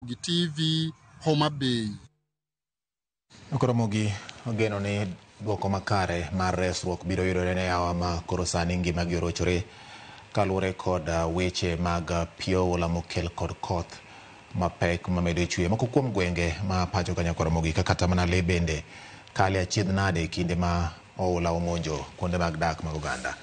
Ramogi TV, Homa Bay. Okoromogi ogeno ni dwoko makare mar resruok biro yudore ne awa ma koro sani ngimagi orochore kaluwore kod ah, weche mag ah, pio oula mokel kod koth mapek mamedo chwe. Moko kuom gwenge ma pacho kanyakoromogi kaka Tamanale bende kale achiedh nade kinde ma Oula omonjo kuonde mag dak mag oganda.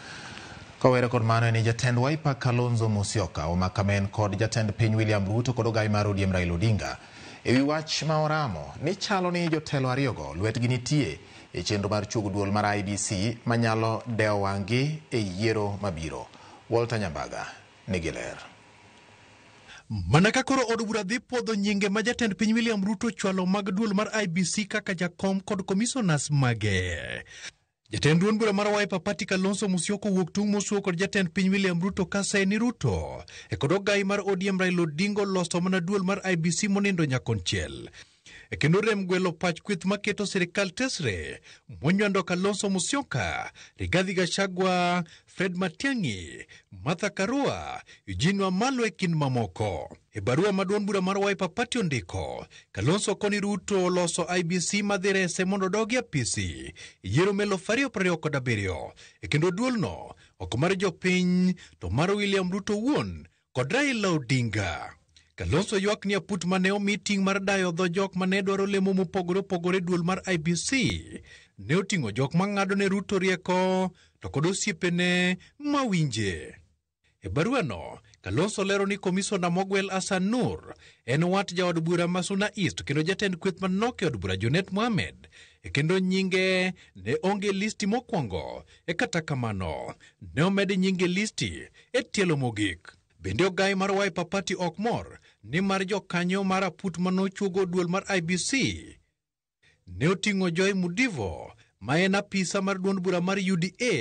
Kawere kod mano en jatend Wiper Kalonzo Musyoka, Omakamen kod jatend piny William Ruto kod ogayi mar ODM Raila Odinga. Ewi wach ma oramo ni chalo ni jotelo ariyogo lwetgi nitie e chenro mar chuogo duol mar IBC manyalo dewo wang'gi e yiero mabiro. Walter Nyambaga ni giler. Mana ka koro od bura dhi pwodho nyinge ma jatend piny William Ruto chwalo mag duol mar IBC kaka jakom kod komisonas mage. Jatend duond bura mar Wiper Party Kalonzo Musyoka owuok tung' mosuo kod jatend piny William Ruto kase ni Ruto e kod ogayi mar ODM Raila Odinga oloso mana duol mar IBC monindo nyakonchiel. e kendo rem gwelo pach kweth maketo sirikal tesre monywando Kalonzo Musyoka, Rigathi Gachagua, Fred Matiang'i, Martha Karua, Eugene Wamalwa e kind mamoko. E barua maduong' bura mar Wiper Party ondiko, Kalonzo koni Ruto oloso IBC madhi rese mondo odog e apisi e yiero ma eluf ariyo prariyo kod abiriyo e kendo duolno ok mar jopiny to mar William Ruto wuon kod Raila Odinga. Kalonzo ywak ni aput mane omi ting' mar dayo dho jok mane dwaro lemo mopogore opogore duol mar IBC ne oting'o jok mang'ado ne Ruto rieko to kod osiepene mawinje. E baruano, Kalonzo lero ni komisona mogwel Hassan Nur en wat jaod bura ma Suna East kendo jatend kweth manok e od bura Junet Mohamed kendo nyinge ne onge e listi mokwongo E kata kamano, ne omed nyinge e listi e tielo mogik. Bende ogai mar Wiper Party ok mor ni mar jokanyo mar aput manochuogo duol mar IBC ne oting'o Joy Mudivo ma en apisa mar duond bura mar UDA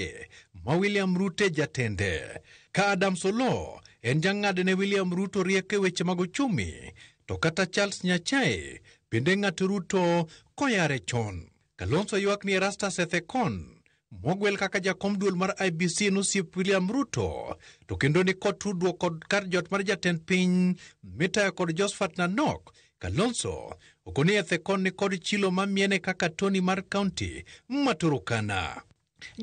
ma William Ruto e jatende. Ka Adams Oloo en jang'ad ne William Ruto rieko e weche mag ochumi to kata Charles Nyachae bende ng'at Ruto koyare chon. Kalonzo ywak ni Erastus Ethekon mogwel kaka jakom duol mar IBC nosiep William Ruto to kendo ni kod tudruok kod kar jot mar jatend piny mitayo kod Josephat Nanok Kalonzo ogoni ethekon ni kod chilo ma miene kaka Tony mar kaunti ma Turukana.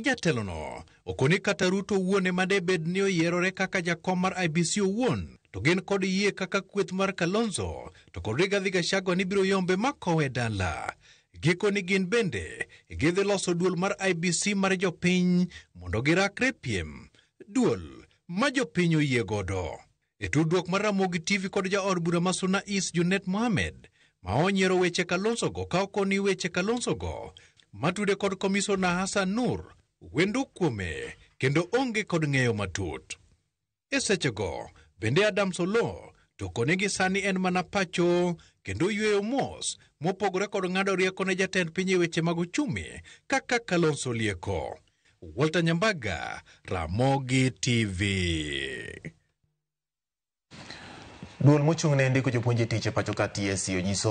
Jatelono okoni kata Ruto owuon ema de bed ni oyierore kaka jakom mar IBC owuon to gin kod yie kaka kweth mar Kalonzo to kod Rigathi Gachagua ni biro yombe makowe dala. Giko ni gin bende gidhi loso duol mar IBC mar jopiny mondo girakre piem. Duol ma jopiny oyie godo. E tudruok mar Ramogi TV kod jaod bura ma Suna East Junet Mohamed ma onyiero weche Kalonzogo ka okoni weche Kalonzogo matude kod komisona Hassan Nur wendo kuome kendo onge kod ng'eyo matut. E sechego bende Adams Oloo to kone gi sani en mana pacho kendo yweyo mos mopogore kod ng'ado rieko ne jatend piny e weche mag uchumi kaka Kalonzo Lieko. Walter Nyambaga, Ramogi TV. Duol mochung' ne ndiko jopuonj e tich e pacho ka TSC onyiso